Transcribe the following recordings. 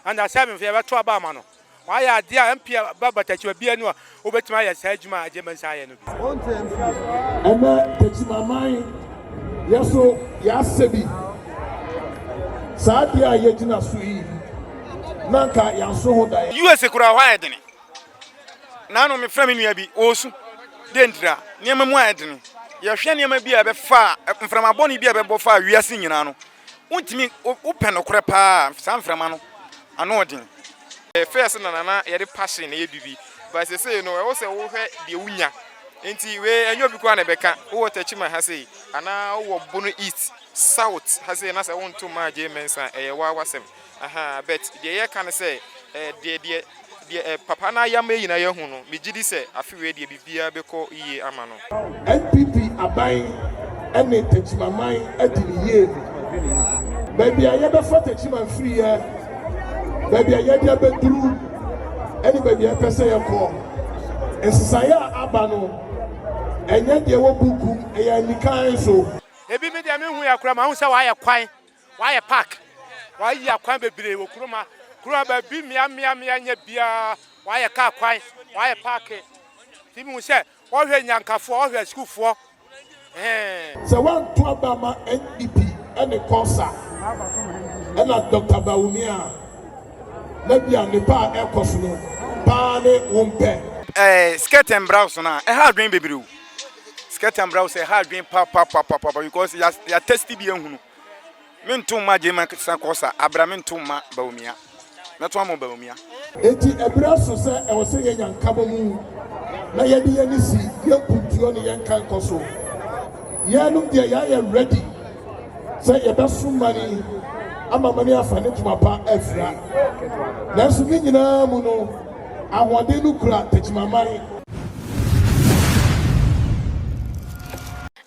Under seven fo yɛbɛto aba ama no. Wayɛ adeɛ a MP ba Batakyima biara ni a wobɛtumi ayɛ saa adwuma a Agye Mensah ayɛ no bi. Ɛnɛ Takyimaman yɛ so yɛasɛ bi. Saa adeɛ a yɛgyina so yi na anka yɛanso ho daeɛ. USA koraa hɔ ayɛ dene. Naano me frɛ me nua bi ɔɔsu dɛ ntira nneɛma mu ayɛ dene. Yɛhwɛ nneɛma bi a ɛbɛfaa mframa bɔne bi a ɛbɛbɔ faa wiase nyinaa no Wontumi, wopɛ nokorɛ paa a, saa mframa no, ano ɔden. First no na na yɛde passion yɛ biribi but sesei no ɛwɔ sɛ wo hwɛ deɛ wo nya nti wei ɛnyɛ obi koraa na ɛbɛka wo wɔ Techiman ha sei anaa wo wɔ Bono East, South ha sei na sɛ wo nto mmaa Jay Mensah a ɛyɛ wo ara w'asɛm. Ahaa but deɛ yɛka ne sɛ eh deɛ deɛ deɛ eh papa no ayɛ ama yɛn nyinaa yɛahu no megye di sɛ afe wei deɛ biribiara bɛkɔ yie ama no. NPP aban ɛne takyimaman adi no yie no baabi a yɛbɛfa takyiman firiiɛ baabi a yɛde abɛduru ɛne baabi a yɛpɛ sɛ yɛkɔ nsesaeɛ a aba no ɛnyɛ deɛ ɛwɔ buukum ɛyɛ anikan so. Ebi me deɛ menhu yɛ koraa mahu sɛ wayɛ kwan W'ayɛ park, w'ayi akwan bebree wɔ kurom ha. Kurom ha baabi mmea mmea mmea nyɛ biara, w'ayɛ car kwan, w'ayɛ park. Nti mi hu sɛ wɔhwɛ Nyankafoɔ, wɔhwɛ asukuufoɔ, ɛhɛn. Sɛ wanto aba ama NDP ne Kɔsa ɛna Doctor Bawumia a, na bia nnepa a ɛrekɔso no paa ne wo mpɛ. Ɛɛ skirt and brouse no a ɛha adwene bebree o, skirt and brouse ɛha adwene papapapapapa because ya ya test bi ahunu. Mentow mma Gyema sa kɔ sa, abra mentow mma Bawumia. Mɛto ama Bawumia. Enti ɛberɛ aso sɛ ɛwɔ sɛ yɛnya nkabɔmu na yɛde yɛn ani si yɛn mpuntuo ne yɛn nkankɔ so. Yɛnom deɛ yɛayɛ ready sɛ yɛbɛsom mani ama mani afa ne ntoma pa afira. Nanso ne nyinaa mu no, ahoɔden no kura Techiman mani.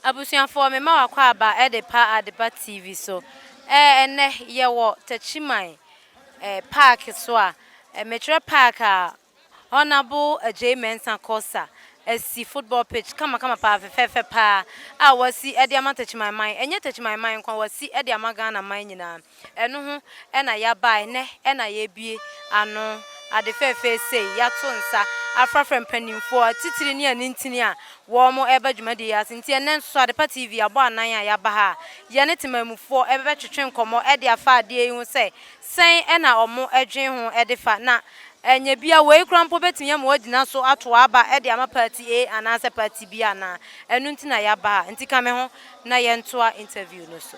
Abusuafoɔ me ma wakɔ aba de pa Adepa TV so ɛɛ ɛnɛ yɛ wɔ Takyiman ɛɛ park so a me kyerɛ park a Honourable Adjei Mensah Korsah asi football pitch kama kama paa fɛfɛɛfɛ paa a wasi ɛde ama Takyiman man ɛnyɛ Takyiman man nko a wasi ɛde ama Ghana man nyinaa. Ɛno ho na yɛabae, nnɛ na yɛabue ano, ade fɛɛfɛɛ sei, yɛato nsa afrafra mpanimfoɔ atitire ne anintini a wɔreba dwumadie yi ase. Nti ɛnnɛ nso Adepa TV abɔ anan a yɛaba ha a yɛne temanmufoɔ bɛtwetwe nkɔmmɔ de afa adeɛ yi ho sɛ sɛn na wɔdwene ho de fa, na ɛnyɛ bi a wei koraa mpo bɛtumi ama wɔagyina so ato aba de ama party A anaasɛ party B anaa? Ɛno nti na yɛaba ha, nti ka me ho na yɛntoa interview no so.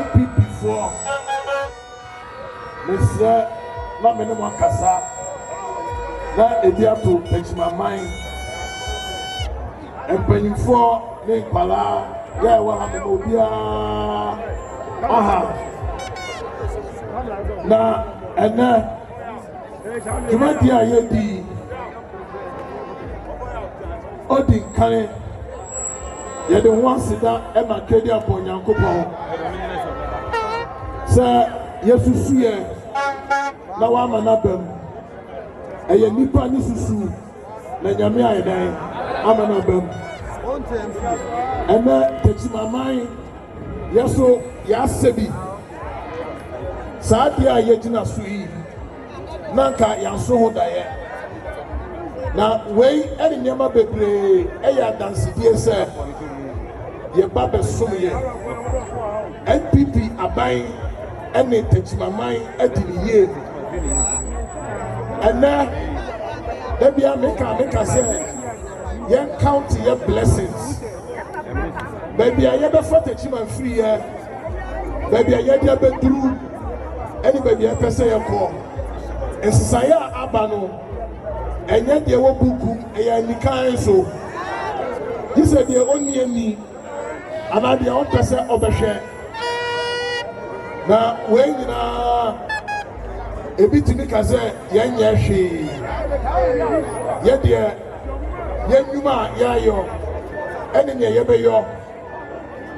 NPP foɔ mesrɛ na me ne mo akasa na ebi ato Takyimaman mpanyinfoɔ ne nkwadaa yɛ ɛwɔ ha mema obiara aha na ɛnɛ dwumadie a yɛdi odi nkan Yɛde ho aseda na akadia bɔ Nyankopɔn sɛ yɛasusu yɛ na wama no aba mu. Ɛyɛ nnipa ne susu na Nyame ayɛ dɛn ama no aba mu. Ɛnɛ takyimaman yɛ so yɛasɛ bi saa adeɛ a yɛgyina so yi. na anka yɛaso ho daeɛ. Na wei ne nneɛma bebree ɛyɛ adansedie sɛ yɛba bɛsom yɛ NPP aban ne takyimaman adi ne yie no. Ɛnɛ, da bia meka meka sɛ yɛn count yɛ blessings. baabi a yɛbɛfa takyima mfiri yɛ baabi a yɛde abɛduru ɛne baabi a yɛpɛ sɛ yɛkɔ nsesaeɛ a aba no ɛnyɛ deɛ wɔ buku ɛyɛ anikan so gye sɛ deɛ ɔnni ani anaa deɛ ɔmpɛ sɛ ɔbɛhwɛ na wei nyinaa ebi tumi ka sɛ yɛnyɛ hwee yɛdeɛ Yɛn nnwuma a yɛayɔ ne nea yɛbɛyɔ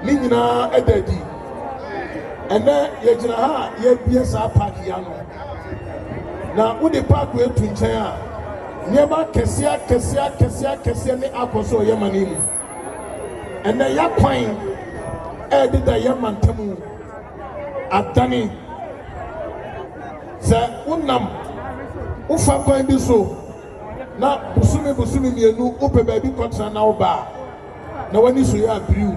no nyinaa da adi. Ɛnnɛ, yɛgyina ha a yɛrebue saa paaki yi ano, na wode paako yi to nkyɛn a, nneɛma akɛseɛ akɛseɛ akɛseɛ akɛseɛ ne akɔ so wɔ yɛn man yi mu. Ɛnnɛ, yɛakwan ɛrededa yɛn mantam adane. Sɛ wonam wofa kwan bi so na bosome bosome mmienu wopɛ baabi kɔtena na woba a, na w'ani so yɛ abiriw.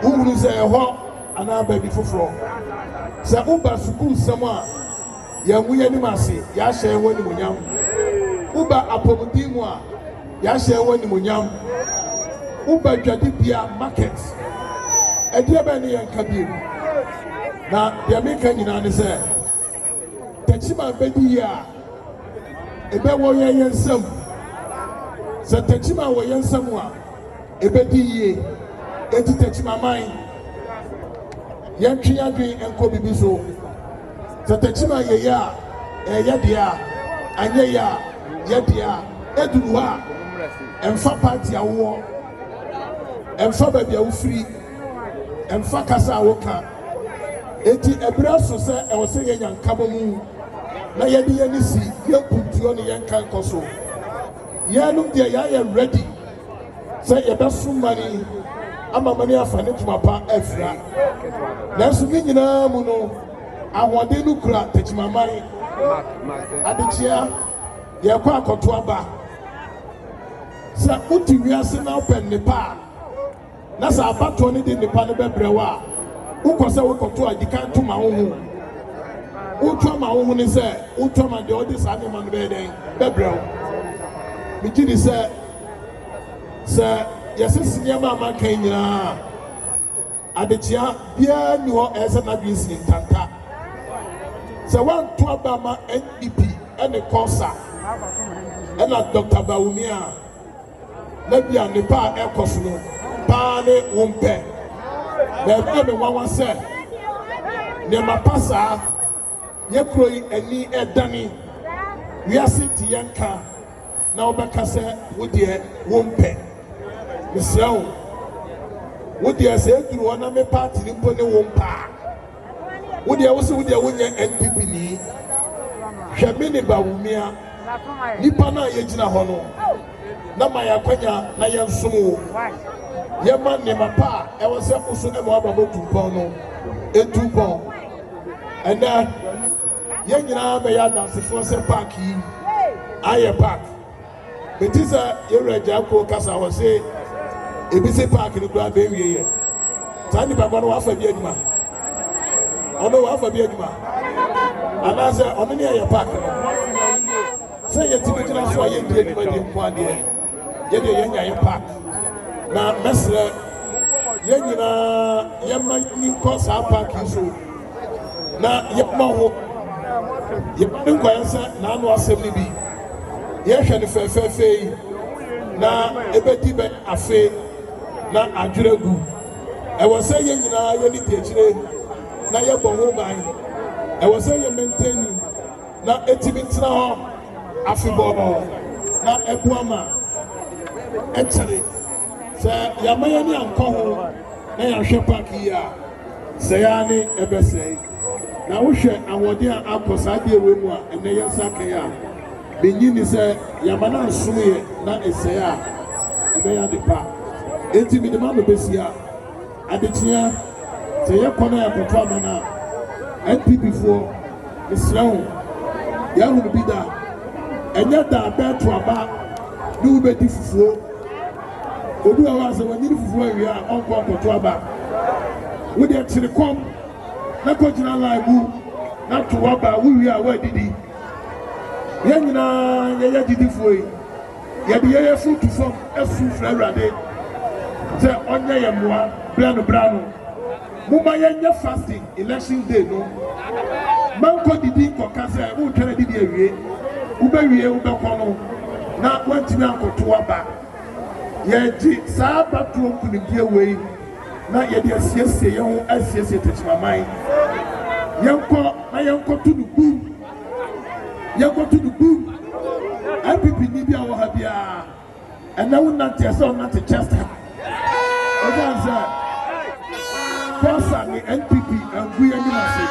Wohunu sɛ ɛhɔ anaa baabi foforɔ. Sɛ woba sukuusɛm a, yɛangu yɛn anim ase, yɛahyɛ yɛn ho animuonyam. Woba apɔmuden mu a, yɛahyɛ yɛn ho animuonyam. Woba dwadibea, market, ɛdeɛ bɛn ne yɛnka bio? Na deɛ meka nyinaa ne sɛ. Takyiman bɛdi yɛ a, ɛbɛ wɔ yɛn yɛn nsam. Sɛ takyiman wɔ yɛn nsam a, ɛbɛdi yie. Enti takyimaman, yɛntwe yɛn adwene nkɔ biribi so. Sɛ takyiman yɛ yɛ a, ɛyɛ yɛ dea. Anyɛ yɛ a, yɛ dea. Ɛduru hɔ a, ɛmfa paati a wowɔ, ɛmfa baabi a wofiri, ɛmfa kasa a woka. Enti bere aso sɛ ɛwɔ sɛ yenya nkabomu na yɛde yɛn ani si yɛn kuntuo ne yɛn kankɔ so. Yɛnom deɛ yɛayɛ ready sɛ yɛbɛso mani ama mani afa ne ntoma pa afira. Nanso ne nyinaa mu no, ahoɔden no kura takyimaman. Adekyea, yɛkɔ akɔto aba. Sɛ wote wiase na wopɛ nnepa a, na sɛ abatoɔ no de nnipa no bɛbrɛ wo a, wokɔ sɛ wokɔto a, di kan to ma wo ho. Woto ama wo ho ne sɛ, woto ama deɛ ɔde saa nneɛma no bɛyɛ dɛn bɛbrɛ wo. Megye di sɛ sɛ yɛsese nneɛma a maka yi nyinaa a, adekyea biara nni hɔ ɛyɛ sɛ n'adwene sii ntanta sɛ woanto aba ma NDP ne kɔsa ɛna Dr. Bawumia a na bia nnepa a ɛrekɔso no paa ne wo mpɛ. Na ɛbɛyɛ me nwanwa sɛ nneɛma pa saa yɛ kuro yi ani ɛdane wiase nti yɛ nka na wobɛka sɛ wo deɛ wo mpɛ. Mesrɛ wo, wo deɛ sɛ ɛduru hɔ na me paati no mpo ne wo mpaa. wo deɛ wo se wo deɛ wonyɛ NPP ni hwɛ me ne Bawumia nipa no a yɛgyina hɔ no na ma yɛakwanya na yɛnsom wo yɛma nneɛma pa a ɛwɔ sɛ wo so ɛma waba bɔ tumpɔn no ɛtu mpɔn ɛnɛ yɛn nyinaa bɛyɛ adansefoɔ sɛ park yi ayɛ park Mete sɛ yɛ wura gyaa kuo kasa wɔ se ebi se park no koraa bɛ wie yɛ. Saa nipa kɔ no wafa bi adwuma. Ɔno wafa bi adwuma. Anaasɛ ɔno ne ɛyɛ park no. Sɛ yɛ ti bi gyina so a yɛ ndi adwuma di mpo adeɛ. Yɛ deɛ yɛ nya yɛ park. Na mɛsrɛ yɛ nyinaa yɛ ma ni nkɔ saa park yi so. Na yɛ ma ho. Yɛ ma ne nkɔyɛ sɛ n'ano asɛm ne bi. yɛhwɛ no fɛfɛɛfɛ yi na ebedi bɛyɛ afe na adwere agu. Ɛwɔ sɛ yɛn nyinaa yɛne di akyire na yɛbɔ ho ban. Ɛwɔ sɛ yɛ mɛntɛni na etumi tena hɔ afebɔɔ na ɛboa ma ɛkyɛre. Sɛ yɛama yɛn ani ankɔ ho na yɛanhwɛ paaki yi a, sɛe ara ne ɛbɛsɛe. Na wohwɛ ahoɔden a akɔ saa adeɛ wei mu a ɛnɛ yɛn nsa aka yi a, mennye nni sɛ yɛama no ansom yɛ na ɛsɛe a, ɛbɛyɛ ade pa. Enti mede ma me bɛsi a, adekyea sɛ yɛkɔ na yɛakɔto ama no a, NPPfoɔ, mesrɛ wo, yɛahunu bi da. Ɛnyɛ da a bɛɛto aba ne wobɛdi fufuo. Obi wɔ hɔ a sɛ wanyini fufuo awie a ɔnkɔ nkɔto aba. Wo deɛ kyere kɔm na kɔgyina line mu na to w'aba wowie a woadidi. Yɛn nyinaa yɛyɛ agyidifoɔ yi, yɛde yɛn yɛ so to fam su frɛ Awurade sɛ ɔnyɛ yɛn mmoa berɛ ano berɛ ano. Momma yɛnyɛ fasting election day no mankɔ didi nkɔka sɛ woretwɛn adidi awie wobɛwie wobɛkɔ no na woantumi ankɔto aba. Yɛregye saa abatoro nkunimdie wei na yɛde asiesie yɛn ho asiesie tekyemaman. Yɛnkɔ na yɛnkɔto no bum! Yɛnkɔto no bum! NPP ni bi a ɔwɔ ha biara. ɛnɛ wo nante ɛsɛ wo nante chest high ɛfan sɛ fɔsa ne npp angu yɛ anim ase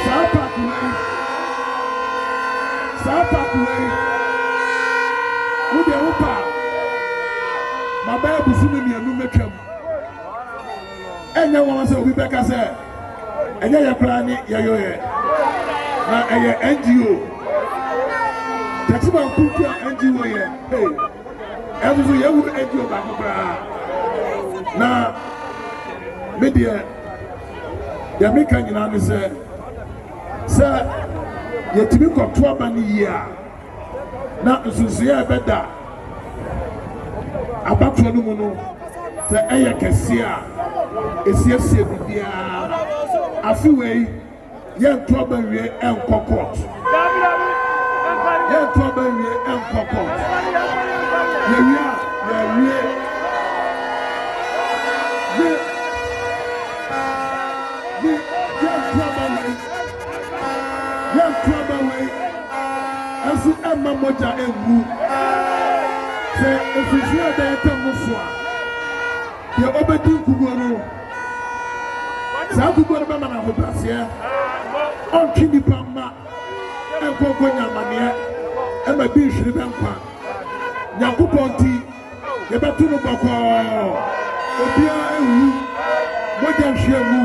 saa paaki wei saa paaki wei wo deɛ wo paa mabɛyɛ busumi mmienu mɛtwam Ɛnyɛ nwanwa sɛ obi bɛka sɛ, Ɛnyɛ yɛn koraa ne yɛyɔeɛ, na ɛyɛ NGO. Techiman Kunku a NGO yɛ, hey, ɛnso so yɛhunu NGO baako koraa. Na me deɛ, deɛ meka nyinaa ne sɛ, sɛ yɛtumi kɔto aba no yie a, na nsusuiɛ a ɛbɛda abatoɔ no mu no sɛ ɛyɛ kɛseɛ a ɛsiesie biribiara afe wei yɛnto aba nwie ɛnkɔ court yɛnto aba nwie ɛnkɔ court yɛwie a yɛwie ne ne yɛnto aba nwie Yɛnto aba wei nso mma mogya ngu. Sɛ mfimfini a ɛbɛn ntam no so a, deɛ ɔbɛdi nkuguo no, saa nkuguo no bɛma no ahobrɛaseɛ. Ɔntwe nnipa mma nkɔ nkɔnya amaneɛ, ɛma bi nhwere bɛ nkwa. Nyankopɔn nti, Yɛbɛto mo bɔkɔɔ. Obiara anwu. Mogya nhweamu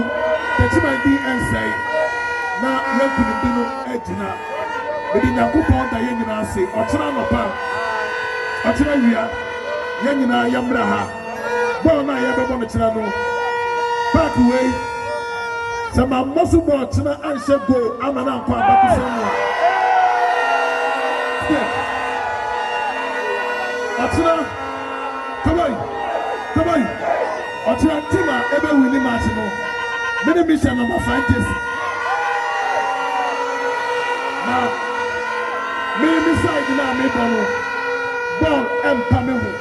Techiman din rensɛe, na yɛn nkonimdi no agyina. Mede Nyankopɔn da yɛn nyinaa ase. Ɔkyena anɔpa, ɔkyena awia, yɛn nyinaa yɛmmra ha. Bɔɔl no a yɛrebɛbɔ no kyena no, paaki wei. Sɛ mammɔ so bɔɔl kyena anhyɛ goal amma no ankɔ abakɔsɛm mu a, Steph, ɔkyena, Kawai, Kawai, ɔkyena team a ɛbɛ winni match no, me ne Misha na ma sign jersey. Na me me side no a mebɔ no, bɔɔl ɛmpa me ho.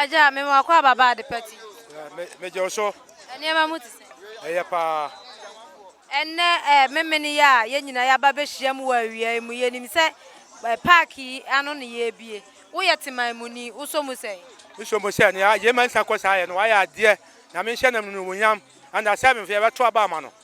Agya, me ma kɔ ababa ade pa ti. Megyɛ wo so. Nneɛma mu te sɛ. Ɛyɛ paa. Ɛnnɛ ɛɛ memene yi a yɛn nyinaa yɛaba abɛhyiam wɔ awia yi mu, yɛnim sɛ park yi ano na yɛrebue. Woyɛ Teman muni, wosɔ mu sɛn? Mesɔ mu sɛ nea Yema nsa kɔ saa yɛ no, wayɛ adeɛ. Nyame nhyɛ n'anuonyam. Under seven fo yɛbɛto aba ama no.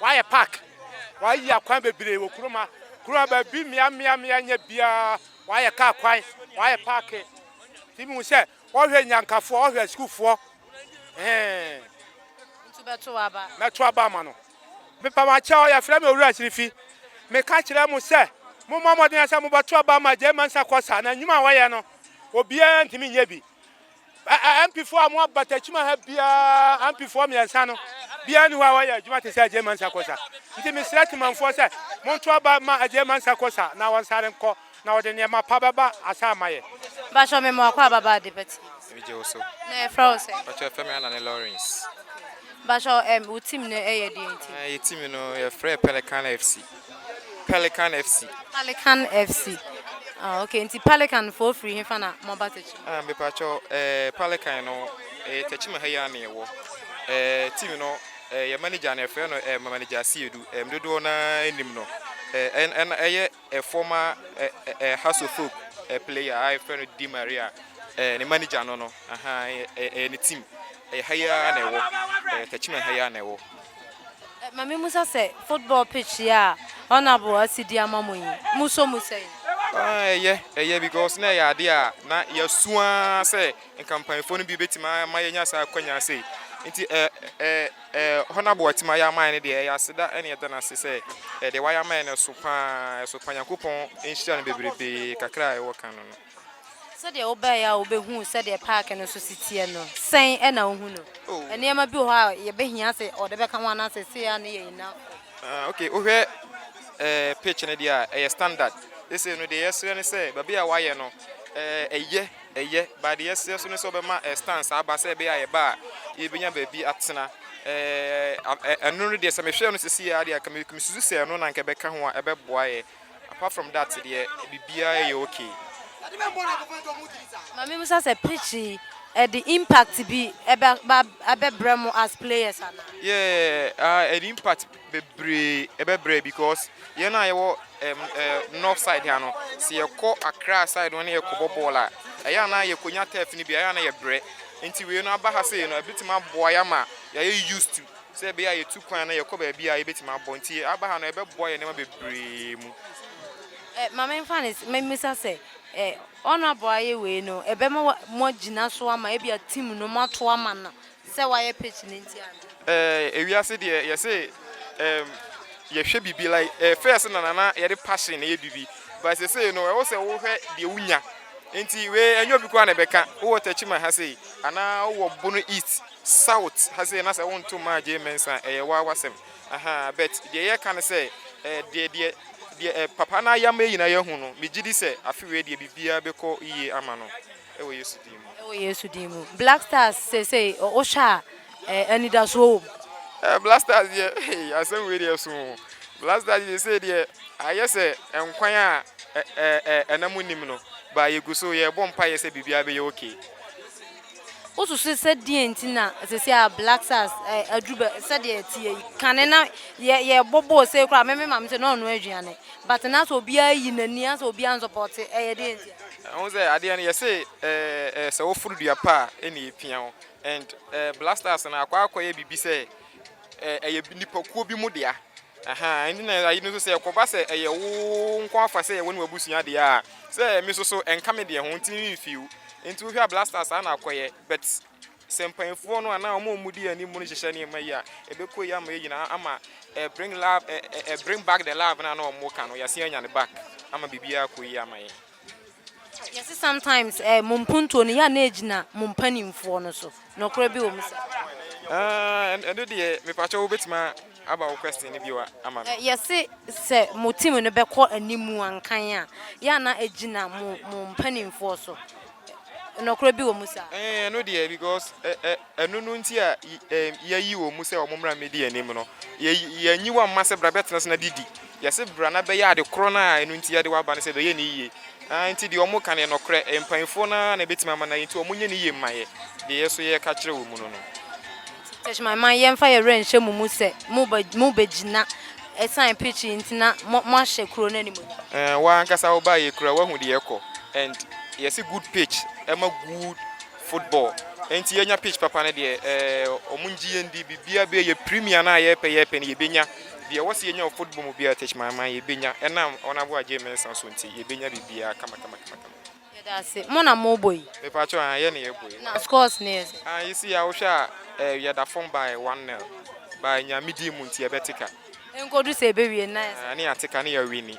W'ayɛ park, w'ayi akwan bebree wɔ kurom ha. Kurom ha baabi mmea mmea mmea nyɛ biara, w'ayɛ car kwan, w'ayɛ park. Ti mi hu sɛ ɔhwɛ nyankafoɔ, ɔhwɛ sukuufoɔ, ɛhɛn. Nti bɛto w'aba? Mɛto aba ama no. Mepamakyɛw, yɛfrɛ me Owura Sirifi. Me ka kyerɛ mo sɛ, mo mmɔ mmɔden sɛ mo bɛto aba ama Gyei Mensah Kɔsa, na nnwuma a ɔyɛ no, obiara ntumi nyɛ bi. Ampifoɔ a wɔn abatakyima ha biara, Ampifoɔ mmiɛnsa no, biara nni hɔ a wɔyɛ adwuma te sɛ Agyei Mansa Kosa. Nti mesrɛ Temanfoɔ sɛ monto aba ma Agyei Mansa Kosa na wɔnsare nkɔ na wɔde nneɛma pa bɛba asa ama yɛn. Mpakyɛw me mmoa kɔ aba ba ade pa team. Me gye wo so. Na yɛfrɛ wo sɛn? Mpakyɛw yɛfrɛ me Anane Lawrence. Mpakyɛw ɛm wo team no yɛ deɛn team? Ɛɛ yɛ team no yɛfrɛ Pelican FC. Pelican FC. Pelican FC. Ah, okay. Nti Pelican fo firi hefa na mo aba Tekyim? Ah, mepakyɛ eh, Pelican no eh, Tekyim ha yi ara na yɛwɔ. Eh, team no eh, yɛ manager no yɛfrɛ no eh, manager Asiedu. Eh, dodoɔ na anim no eh, ɛna ɛyɛ eh, former eh, eh, eh, Hasso Folk eh, player a yɛfrɛ no Di Maria. Eh, ne manager no no. Ahaa ɛyɛ ɛyɛ ɛyɛ ne team ɛyɛ ha yi ara na ɛwɔ ɛyɛ Tachima ha yi ara na ɛwɔ. Ɛ ma me musa sɛ football pitch yi a Honourable asi de ama mo yi mo sɔ mu sɛn? Aa ɛyɛ ɛyɛ because na ɛyɛ adeɛ a na yɛasu ara sɛ nka mpaninfoɔ no bi bɛtumi a ama yɛanya saa akwanya sei nti ɛ ɛ ɛ Honourable a watumi ayɛ ama yɛn no deɛ ɛyɛ aseda ɛna yɛda no ase sɛ ɛ deɛ wayɛ ama yɛn no ɛso pa ara ɛso pa ara Nyankopɔn nhyira no bebrebee kakra a ɛwɔ kan no no. Sɛdeɛ wobaeɛ a wobɛhuu sɛdeɛ paake no nso si teɛ no, sɛn na wohu no? Oh. Nneɛma bi wɔ hɔ a yɛbɛhia sɛ ɔde bɛka ho anaa seesei a ne yɛyi no akɔ. Ah, okay, wohwɛ eh, pitch no deɛ a, ɛyɛ standard. Seesei no deɛ yɛsrɛ ne sɛ, baabi a wayɛ no, eh, ɛyɛ, ɛyɛ, ba deɛ yɛsrɛ so ne sɛ ɔbɛma eh, stands aba sɛ ɛbɛyɛ a yɛba a, yɛbɛnya baabi atena. Eh, ɛno no deɛ sɛ mehwɛ no seesei a deɛ, nka mesusu sɛ ɛno na nka ɛbɛka ho a ɛbɛboa yɛ, Apart from that deɛ biribiara yɛ okay. Ma me bisa sɛ pitch yi ɛde impact bi ɛbɛba ɛbɛbrɛ mo as players anaa? Yeah ah ɛde impact bebree ɛbɛbrɛ because yɛn a yɛwɔ ɛm ɛɛ north side ha no sɛ yɛkɔ Accra side no na yɛkɔ bɔ bɔɔl a ɛyɛ a na yɛkɔ nya turf no bi a ɛyɛ a na yɛbrɛ nti wei no aba ha sei no ɛbɛtumi aboa yɛn ama yɛayɛ used to Sɛ ɛbɛyɛ a yɛtu kwan na yɛkɔ baabi a yɛbɛtumi abɔ. Nti yɛaba ha no, ɛbɛboa yɛn nneɛma bebree mu. Ɛ, ma memfa no sɛ, memmisa sɛ, ɛ, wɔn a wɔayɛ wei no, ɛbɛma wa, moagyina so ama ebia team no, moato ama no sɛ wayɛ pitch no nti anaa? Ɛ, ewiase deɛ, yɛse, ɛɛm, yɛhwɛ biribi like, ɛ, first no na na yɛde passion na ɛyɛ biribi, but seesei no, ɛwɔ sɛ wohwɛ deɛ wonya. Nti wei, ɛnyɛ obi ko ara na ɛbɛka. Wowɔ Techiman ha sei, anaa wowɔ Bono East. South ha sei na sɛ wonto mmaa Gyei Mensah a, ɛyɛ waa w'asɛm. Ahaa, but deɛ yɛreka ne sɛ, eh, deɛ, deɛ, deɛ eh, papa no ayɛ ama yɛn nyinaa yɛahu no, megye di sɛ afe wei deɛ biribiara bɛkɔ yie ama no wɔ Yesu din mu. Wɔ Yesu din mu. Black Stars seesei ɔ, wohwɛ a, eh, anidasoɔ wɔ mu? Eh, Black Stars deɛ, hey, asɛm wei deɛ ɛso o. Black Stars deɛ seesei deɛ ayɛ sɛ nkwan a ɛ, ɛ, ɛ, ɛna mu nnim no, but yɛgu so, yɛrebɔ mpaeɛ sɛ biribiara bɛyɛ okay. Wosusu sɛ deɛn nti na sɛsi a Black Stars ɛ aduru bɛ sɛdeɛ ɛteɛ yi? Kane na yɛ yɛbɔ bɔɔl sei koraa me me maame sɛ na ɔnoa aduane but na sɛ obiara ayi n'ani asɛ obiara nsɔpɔɔte ɛyɛ deɛn nti a? Wohu sɛ adeɛ no yɛse ɛɛ sɛ woforo dua pɛ a ɛna ɛpia wo and ɛɛ Black Stars no akɔ akɔyɛ biribi sɛ ɛɛ ɛyɛ nipakuo bi mu dea. Ahaa, ɛnti na ayi no nso sɛ ɛkɔba sɛ ɛyɛ wo nko afa sɛ ɛyɛ wo ne w'abusua deɛ a, sɛ me nso so ɛnka me deɛ ho nti me me feel, nti wohwɛ a Blasters saa na akɔyɛ, but sɛ mpaninfoɔ no anaa wɔn a wɔdi anim no hyehyɛ nneɛma yi a, ɛbɛkɔ yie ama yɛn nyinaa, ama ɛ bring love ɛ ɛ ɛ bring back the love no a na wɔka no, yɛasan anya no back ama biribiara akɔ yie ama yɛn. Yɛse sometimes eh, mo mpuntuo no yɛ a na ɛgyina mo mpaninfoɔ no so, nɔkorɛ bi wɔ mu saa? Ah, ɛno deɛ mepakyɛw wobɛtumi aba wo question no bio ama me? Yɛse sɛ mo team no bɛkɔ anim a nkan a, yɛ a na ɛgyina mo mpaninfoɔ so, nɔkorɛ bi wɔ mu saa? Eh, ɛno deɛ because eh, eh, Ɛno no nti a yɛayi wɔn sɛ wɔmmra mmɛdi yɛn anim no. Yɛanyi wɔn amma sɛ bra bɛtena ase na didi. Yɛse bra na bɛyɛ ade korɔ no a ɛno nti yɛde wo aba no sɛ bɛyɛ no yie. Aane, nti deɛ wɔka no yɛ nɔkorɛ. Mpaninfoɔ no ara na ɛbɛtumi ama no ayɛ, nti wɔnyɛ no yie mma yɛ, deɛ yɛ nso yɛreka kyerɛ wɔn no no. Church man, ma yɛmfa yɛn werɛ nhyɛ mo mu sɛ mobɛgyina ɛsiane pitch yi nti na moahyɛ kuro no animuonyam. Ɛɛ, wo ara ankasa wobaeɛ koraa woahu deɛ ɛrekɔ and yɛse good pitch ɛma good. Football nti yɛnya pitch papa no deɛ ɛɛ wɔn ngye yɛn di biribiara bɛyɛ yɛ premier no a yɛpɛ yɛpɛ no yɛbɛnya deɛ ɛwɔ sɛ yɛnya wɔ football mu biara tech man man yɛbɛnya ɛnam honourable Agyei Mensah so nti yɛbɛnya biribiara kama kama kama kama. Yɛda ase. Mo na mo bɔ yi? Mepakyɛw aa yɛn na yɛbɔ yi. Na scores no yɛ sɛ? Aa yi si a wohwɛ a ɛɛ yɛda fam by one nil by Nyame din mu nti yɛbɛte ka. Ɛnkɔdu sɛ ɛbɛwie no na yɛ sɛ? Aa ne yɛate ka ne yɛ winni.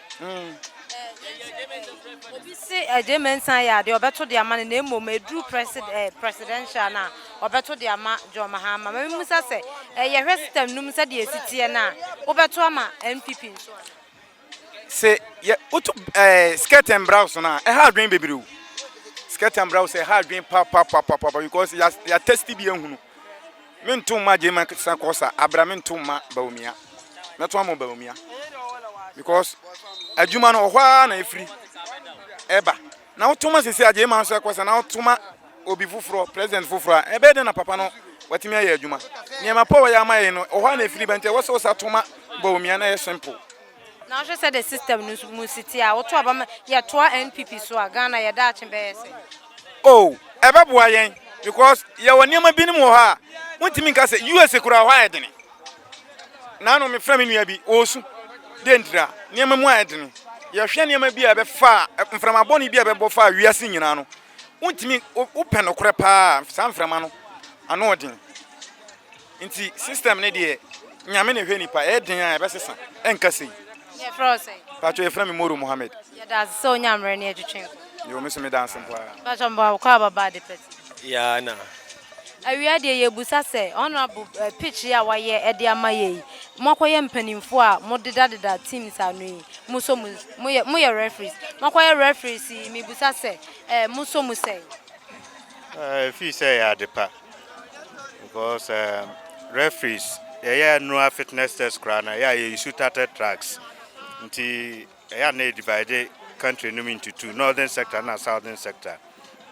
Obi se Agyei Mensah yɛ adeɛ a ɔbɛto de ama no na mmom ɛduru Presidential no a ɔbɛto de ama John Mahama. Mame musa sɛ yɛhwɛ system no mu sɛdeɛ ɛsi teɛ no a wobɛto ama NPP nso anaa? Se yɛ woto ɛɛ skirt and brouse no a ɛha adwene bebree o skirt and brouse ɛha adwene papapapapapa because ya ya test bi ahunu. Me nto mma Gyema sa kɔsa abira me nto mma Bawumia mɛto ama Bawumia because adwuma no ɔhɔ ara na efiri ɛba na woto ma sisi a Gyema nso ɛkɔsa na woto ma obi foforɔ president foforɔ a ɛbɛyɛ dɛ na papa no watumi ayɛ adwuma nneɛma pɔ wɔyɛ ama yɛn no ɔhɔ ara na efiri ba nti ɛwɔ sɛ wosa to ma Bawumia na ɛyɛ simple. Na wohwɛ sɛ the system no mu siti a woto aba ma yɛtoa NPP so a Ghana yɛ daakye bɛyɛ sɛ. Oh, ɛbɛboa yɛn because yɛwɔ nneɛma binom wɔ hɔ a wontumi nka sɛ US kura hɔ ayɛ dene. Naano mefrɛ me nua bi ɔresu dɛ ntira nneɛma mu ayɛ dene. Yɛhwɛ nneɛma bi a ɛbɛfa mframa bɔne bi a ɛbɛbɔ fa wiase nyinaa no. Wontumi wopɛ nokorɛ paa saa mframa no ano ɔden. Nti system no deɛ Nyame na ɛhwɛ nipa ɛyɛ den aa ɛbɛsesa ɛnka sei. Yɛ frɛ wo sɛn? Mpakyɛw yɛ frɛ me Moro Mohammed. Yɛda ase sɛ wonya mmerɛ ne yɛtwetwe nkɔmmɔ. Yoo me nso meda ase mpo ara. Mpakyɛw meboa wo kɔ a baba ade pa ti. Yaa na. Awia deɛ yɛbusa sɛ honourable pitch yi a wayɛ de ama yɛ yi mo akɔyɛ mpaninfoɔ a mo deda deda teams ano yi mo sɔ mu mo yɛ mo yɛ referees mo akɔyɛ referees yi mebusa sɛ mo sɔ mu sɛn? Ɛɛ ɛfiri sɛ ɛyɛ ade pa. because um, referees yɛyɛ annual fitness test koraa na ɛyɛ a yɛyi su tatɛ tracks nti ɛyɛ a na yɛdivide country no mu into two northern sector na southern sector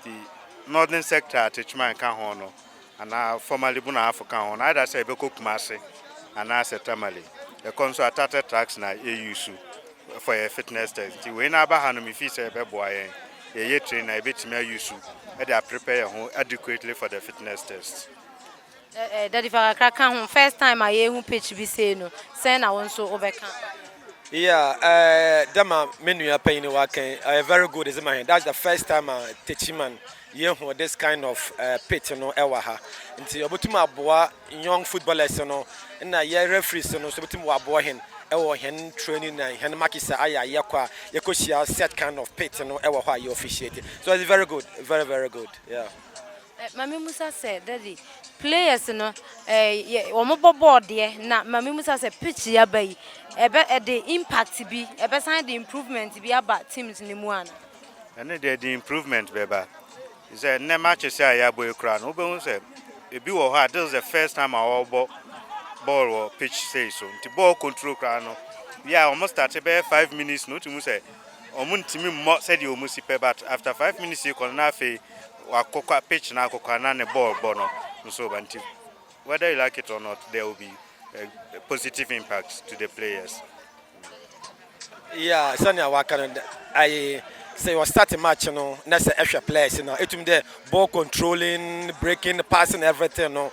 nti northern sector a techman ka ho no anaa formerly bu na afo ka ho no ayɛda sɛ yɛbɛkɔ kumase anaasɛ tamale ɛkɔ nso a tatɛ tracks na yɛyi su for yɛ fitness test nti wei na aba ha no me feel sɛ ɛbɛboa yɛn yɛyɛ train na yɛbɛtumi ayi su ɛde aprepɛ yɛn ho adequately for the fitness test. Eh, eh, Daddy fa kakra ka ho first time a yɛhu pitch bi sei no sɛn na wo nso wobɛka? Yeah, eh, dɛm a me nua panyin waka yi ɛyɛ very good dze ma hɛn that's the first time a Techiman Yehu this kind of pit no wɔ ha nti obotum aboa young footballers no na yɛ referees no so botum wɔaboa hɛn wɔ hɛn training na hɛn matches a ayɛ a yɛkɔ a yɛkɔhyia set kind of pit no wɔ hɔ a yɛ officiate so it's very good very very good yeah. Ma me musa sɛ daddy players no eh, wɔn bɔ bɔɔl deɛ na ma me musa sɛ pitch yaba yi ɛbɛ ɛde impact bi ɛbɛsan de improvement bi aba teams no mu ana. Ɛno deɛ ɛde improvement bɛba. Te sɛ nnɛ matches a yɛabɔ yi koraa no, wobɛhu sɛ ebi wɔ hɔ a, this is the first time a wɔrebɔ bɔɔl wɔ pitch sei so. Nti bɔɔl control koraa no, bi a wɔn starte bɛyɛ five minutes no, wotumi hu sɛ wɔn ntumi mmɔ sɛdeɛ wɔn si pɛ, but after five minutes yi kɔ no, na afei wakokwa pitch no akokwa na ne bɔɔl bɔ no nso ba. Nti whether you like it or not, there will be a positive impact to the players. Yeah, sɛnea waka no dɛ, aye, sɛ yɛ start match no na sɛ ɛhwɛ players no a, etum dɛ ball controlling, breaking, passing everything no,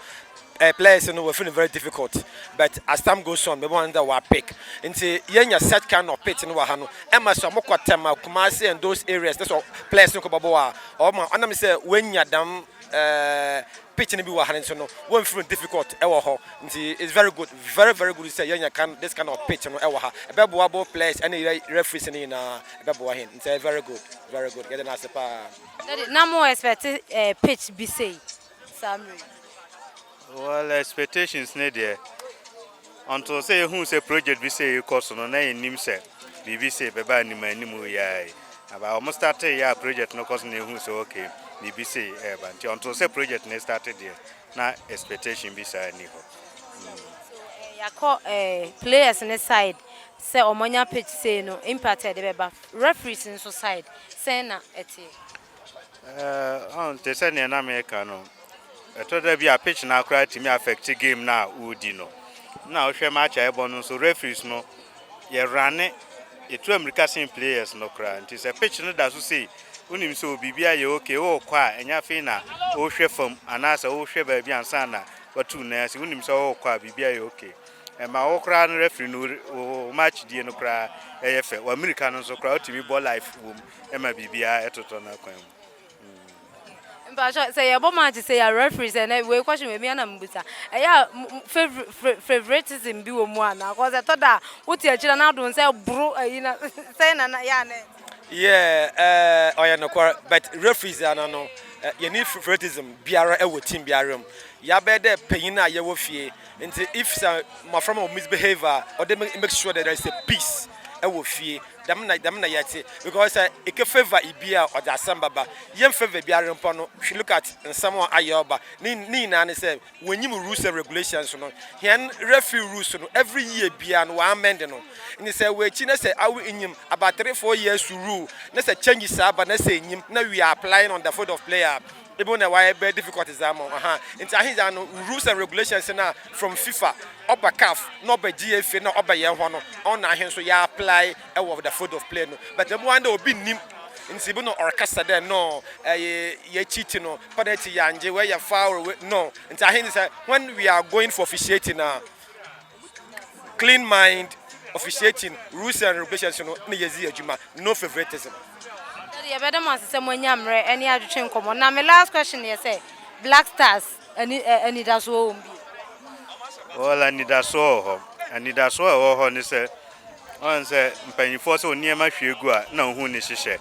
eh, players no wɔfi no very difficult. But as time goes on, bɛbɛma no dɛ wɔa pick. Nti yenya such kind of pitch no wɔ ha no, ɛma sɛ wɔkɔ Tema, Kumasi and those areas na sɛ players no kɔ bɔbɔ a, ɔma ɔnam sɛ woenya dɛm Eh pitch no bi wɔ ha nso no wɔn feel difficult ɛwɔ hɔ nti it's very good very very good sɛ yɛnya kan this kind of pitch no ɛwɔ ha ɛbɛboa both players ɛne referees no nyinaa ɛbɛboa hɛn nti ɛyɛ very good very good yɛde no ase paa. Daddy na mo expect eh pitch bi sei saa mmerɛ yi. Well expectations ne deɛ until sɛ yɛhuu sɛ project bi sei rekɔ so no na yɛnnim sɛ biribi sei bɛba anim anim yɛa yi aba wɔn startee yɛ a project no kɔ so na yɛhuu sɛ okay biribi sei ɛreba nti until sɛ project no starte deɛ na expectation bi saa nni hɔ. yɛakɔ eh, players ne side sɛ wɔn anya pitch sei no impact a ɛde bɛba referees nso side sɛn na ɛteɛ? Ɛɛ, te sɛ nea na meka no, ɛtɔ da bi a pitch no akora tumi affect game no a wodi no. Na wohwɛ match a ɛbɔ no nso, referees no yɛ rane, yɛtu amirika sen players no koraa. Nti sɛ pitch no da so sei, wonim sɛ o biribi ayɛ okay, worekɔ a ɛnyɛ afei na wohwɛ fam anaasɛ wohwɛ baabi ansa na watu nan ase, wonim sɛ worekɔ a biribi ayɛ okay. Ɛma wo koraa no referee no wo match die no koraa ɛyɛ fɛ, w'amirika no nso koraa wotumi bɔ live wom. ɛma biribiara totɔ n'akwan mu. Mpakyɛw sɛ yɛbɔ match sɛ yɛ referee sɛ nɛ wei kɔhye wei na mebusa ɛyɛ a favoritism bi wɔ mu anaa cause ɛtɔ da a wote akyire na adom sɛ boro ayi na sɛn na na yɛ a nɛ. Yeah ɔyɛ nokwar but referees ana no yɛnni favoritism biara wɔ team biara mu yɛabɛyɛ dɛ panyin a yɛwɔ fie nti if sɛ mmɔframma wɔ misbehave a ɔde make sure dɛ there is a peace wɔ fie Dɛm na dɛm na yɛtse because sɛ eke favour ibi a ɔdze asɛm bɛba. Yɛnn favour biara mpo no hw look at nsɛm a ayɛ ɔba ne ne nyinaa ne sɛ wɔnnyim rules and regulations no. Hɛn referee rules no every year biara no wɔammend no. Ntsi sɛ wɔ ekyir na sɛ aw nnyim about three four years rule na sɛ changes aba na sɛ ennyim na we are applying on the foot of player a, Bible na wayɛ bɛ difficult dza ama wo huh ntsi ahe dza no rules and regulations na from fifa ɔba caf na ɔba GFA na ɔba yɛn hɔ no ɔno na ahe so yɛ apply wɔ the field of play no but ɔbɛba ndɛ obi nnim ntsi bi no ɔrekasa dɛ no ɛyɛ yɛ cheat no penalty yangye wei yɛ foul wei no ntsi ahe dze sɛ when we are going for officiating a. clean mind, officiating, rules and regulations no na yɛdzi adwuma, no favoritism. Daddy, yɛbɛda mo ase sɛ moanya mmerɛ ne adwotwe nkɔmmɔ. Na me last question yɛ sɛ, Black Stars ani, ɛ, anidasoɔ wɔ hɔ mu bie? Well, anidasoɔ wɔ hɔ. Anidasoɔ a ɛwɔ hɔ ne sɛ, Ɔn sɛ mpanyimfoɔ sɛ nneɛma hwie gu a na wɔn ho nni hyehyɛ.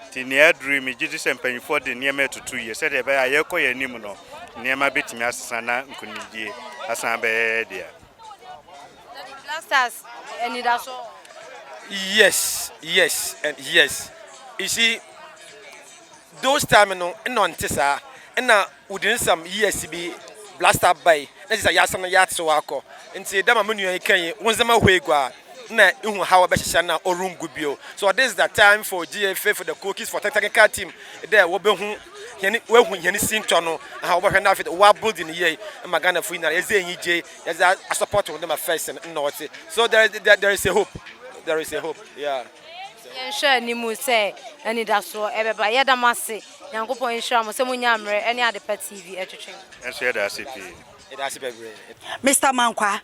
Nti nea aduru yi megye di sɛ mpanyimfoɔ de nneɛma retutu yie sɛdeɛ ɛbɛyɛ a yɛrekɔ yɛn anim no nneɛma bɛtumi asesa na nkunimdie asan abɛyɛ yɛn dea. Daddy Blasters anidaso wɔ hɔ. Yes yes and yes. You see those time no nna ɔnte saa. Nna Wodzi nsɛm yie si bi blasta bae na gyedɛ yɛasan na yɛatsew akɔ. Ntsi dɛ ma mo nua yi kãe yi, wo ndzɛmba hue gu a, nna ihu haw a ɔbɛhyehyɛ na orunngu bio. So this is the time for GA faithful the cookies for technical team dɛ wobehu hɛn woehu hɛn sintɔ no aha wɔbɔhwɛ na afei dze wɔa build no yie ma Ghanafo nyinara yɛdze enyigye yɛdze a a support hɔn dɛ ma first no nna ɔtse so there is there is a hope there is a hope yeah. Yɛnhwɛ animu sɛ anidasoɔ ɛbɛba. Yɛda mo ase. Nyankopɔn nhyira mo sɛ mo nya mmerɛ ɛne Adepa TV ɛtwetwe. Nso yɛda ase pii. Yɛda ase bɛbrɛɛ. Mister Mankwaa,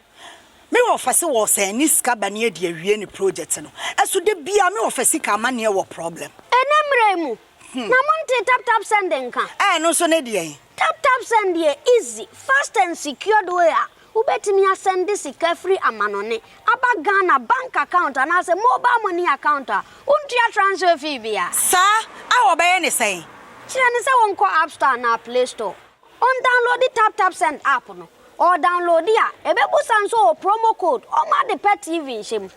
me wɔfɛse wɔsɛn ne sika bɛne adi awie ne project no ɛso da biaa me wɔfɛ sika amaneɛ wɔ problem. Ɛnɛ mmerɛ yi mu na mo ntee tap tap send nka. Ɛɛ ɛno nso ne deɛn? Tap tap send yɛ easy, fast and secured way a Wobɛtumi asɛnde sika firi amanɔne aba Ghana bank account anaasɛ mobile money account a wontua transfer fee bia. Saa a wɔbɛyɛ ne sɛn? Kyerɛ no sɛ ɔnkɔ App Store anaa Play Store, ɔndownloadi Tap Tap Send app no. Ɔredownloadi a, ɛbɛbusa no sɛ ɔwɔ promo code ɔma ade pɛ TV nhyɛ mu.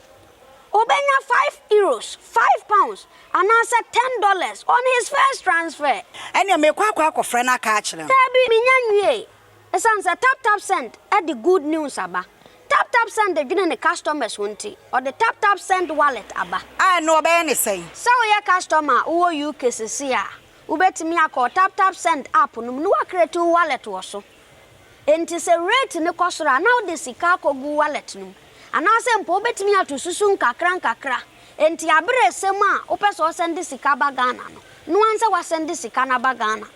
Ɔbɛnya five Euros, five pounds, anaasɛ ten dollars on his first transfer. Ɛneɛ merekɔ akɔ akɔfrɛ no aka akyerɛ no. Daabi, menya nwiee. Esiane sɛ TapTapSend de good news aba, TapTapSend dwene ne customers ho nti, ɔde TapTapSend Wallet aba. A ɛno wɔbɛyɛ no sɛn? Sɛ woyɛ customer a wowɔ UK seesei a, wobɛtumi akɔ wo TapTapSend app no mu na woacreate wo wallet wɔ so. Enti sɛ rate no kɔ soro a, na wode sika akɔgu wo wallet no mu. Anaasɛ mpo wobɛtumi ato susu nkakra nkakra. Enti aberɛ resɛ mu a wopɛ sɛ wosɛnde sika ba Ghana no, noa sɛ woasɛnde sika no aba Ghana.